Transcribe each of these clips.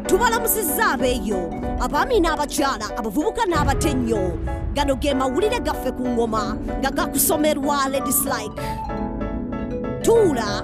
tubalamusizza abeeyo abaami n'abakyala abavubuka n'abato ennyo gano ge mawulire gaffe ku ngoma nga gakusomerwa ladies like tuula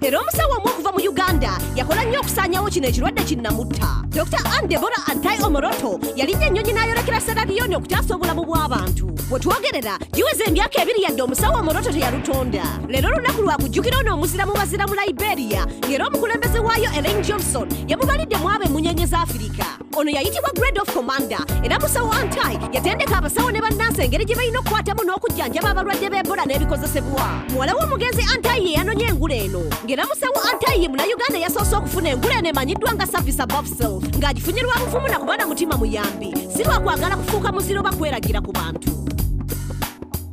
era omusawo omu okuva mu uganda yakola nnyo okusaanyawo kino ekirwadde kinnamutta dr ann debora antai omoroto yalinnya ennyonyi n'ayolekera seraliyoni okutaasa obulamu bw'abantu we twogerera giweza emyaka ebiri yadde omusawo omoroto teyalutonda leero olunaku lwakujjukira ono omuzira mu bazira mu liberia ng'era omukulembeze waayo elaine johnson yamubalidde mu abo emmunyenye za afirika ono yayitibwa grade of commander era musawo antai yatendeka abasawo ne bannansi engeri gye balina okukwatamu n'okujjanjaba abalwadde b'ebola n'ebikozesebwa muwala w'omugenzi antai ye yanonye engule eno ng'era musawo antai ye munayuganda eyasoose okufuna engule eno emanyiddwa nga service above self ng'agifunye lwa bufumu na kuba na mutima muyambi si lwa kwagala kufuuka muziro oba kweragira ku bantu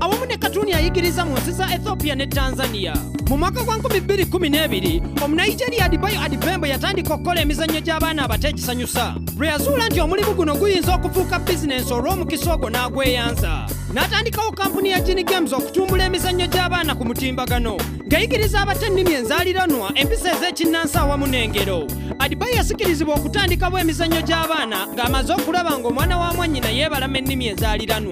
awamu ne katuni ayigiriza mu nsi za ethiopia ne tanzania mu mwaka gwa 212 omunigeria adibayo adibembo yatandika okukola emizannyo gy'abaana abato egisanyusa lwe yazuula nti omulimu guno guyinza okufuuka bizinensi olw'omukisa ogwo n'agweyanza n'atandikawo kampuni ya gini games okutumbula emizannyo gy'abaana ku mutimbagano ng'eyigiriza abato ennimi enzaaliranwa empisa ez'ekinnansi awamu n'engero adibayo yasikirizibwa okutandikawo emizannyo gy'abaana ng'amaze okulaba ng'omwana wa mwannyina yeebalama ennimi enzaaliranwa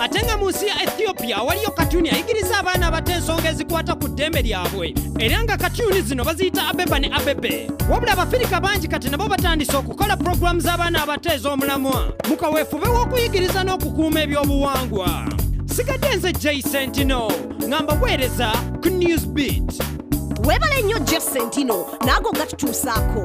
ate nga mu nsi ya ethiopia awaliyo katuni ayigiriza abaana abato ensonga ezikwata ku ddembe lyabwe era nga katuni zino baziyita abeba ne abebe wabula abafirika bangi kati nabo batandise okukola pulogulaamu z'abaana abato ez'omulamwa mu kaweefube w'okuyigiriza n'okukuuma ebyobuwangwa sigadde nze jay sentino nga mbaweereza ku news beat weebale nnyo jay sentino naago gatutuusaako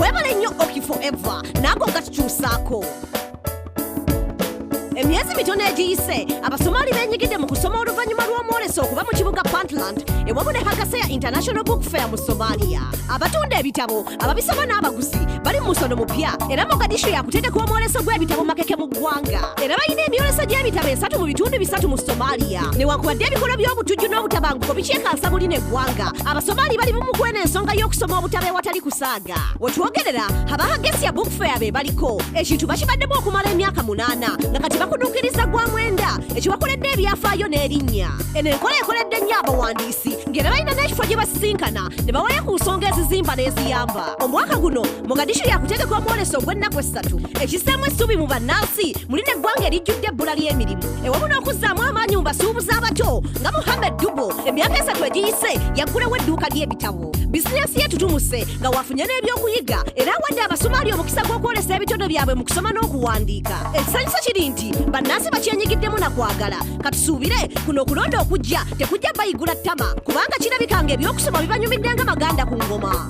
webale nnyo oki forever naago nga tukyusaako emyezi mitono egiyise abasomaali benyigidde mu kusoma oluvannyuma lw'omwoleso okuva mu kibuga puntland ewamu ne hagaseya international book fair mu somalia abatunda ebitabo ababisoma n'abaguzi bali mu musono mupya era mogadishu yakutendeka omwoleso gw'ebitabo makeke mu ggwanga era balina emyoleso gy'ebitabo esatu mu bitundu bisatu mu somaliya newankubadde ebikolwa by'obutujju n'obutabanguko bikyekansa buli ne ggwanga abasomaali bali bumugwe n'ensonga y'okusoma obutabo ewatali kusaaga wetwogerera abahagesia bookfair be baliko ekintu bakibaddemu okumala emyaka munaana nga kati bakuduukiriza gwa mwenda ekibakoledde ebyafaayo n'erinnya eno enkola ekoledde nnyo abawandiisi ng'era balina n'ekifo gye basisinkana ne bawaya ku nsonga ezizimba n'eziyamba omwaka guno mogadishu yakutegeka omwoleso ogw'ennaku essatu ekissaamu essuubi mu bannansi muli n'eggwanga erijjudde ebbula ly'emirimu ewamu n'okuzzaamu amaanyi mu basuubuzi abato nga muhammed dubo emyaka esatu egiyise yaggulawo edduuka ly'ebitabo bizinensi ye tutumuse nga wafunye n'ebyokuyiga era awadde abasumaali omukisa gw'okwolesa ebitone byabwe mu kusoma n'okuwandiika ekisanyusa kiri nti bannansi bakyenyigiddemu na kwagala katusuubire kuno okulonda okujja tekujja bayigula ttama kubanga kirabika nga eby'okusoma bibanyumidde nga maganda ku ngoma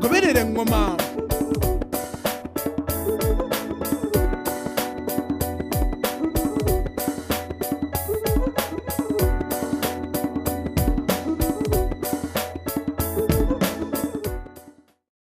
goberera eŋŋoma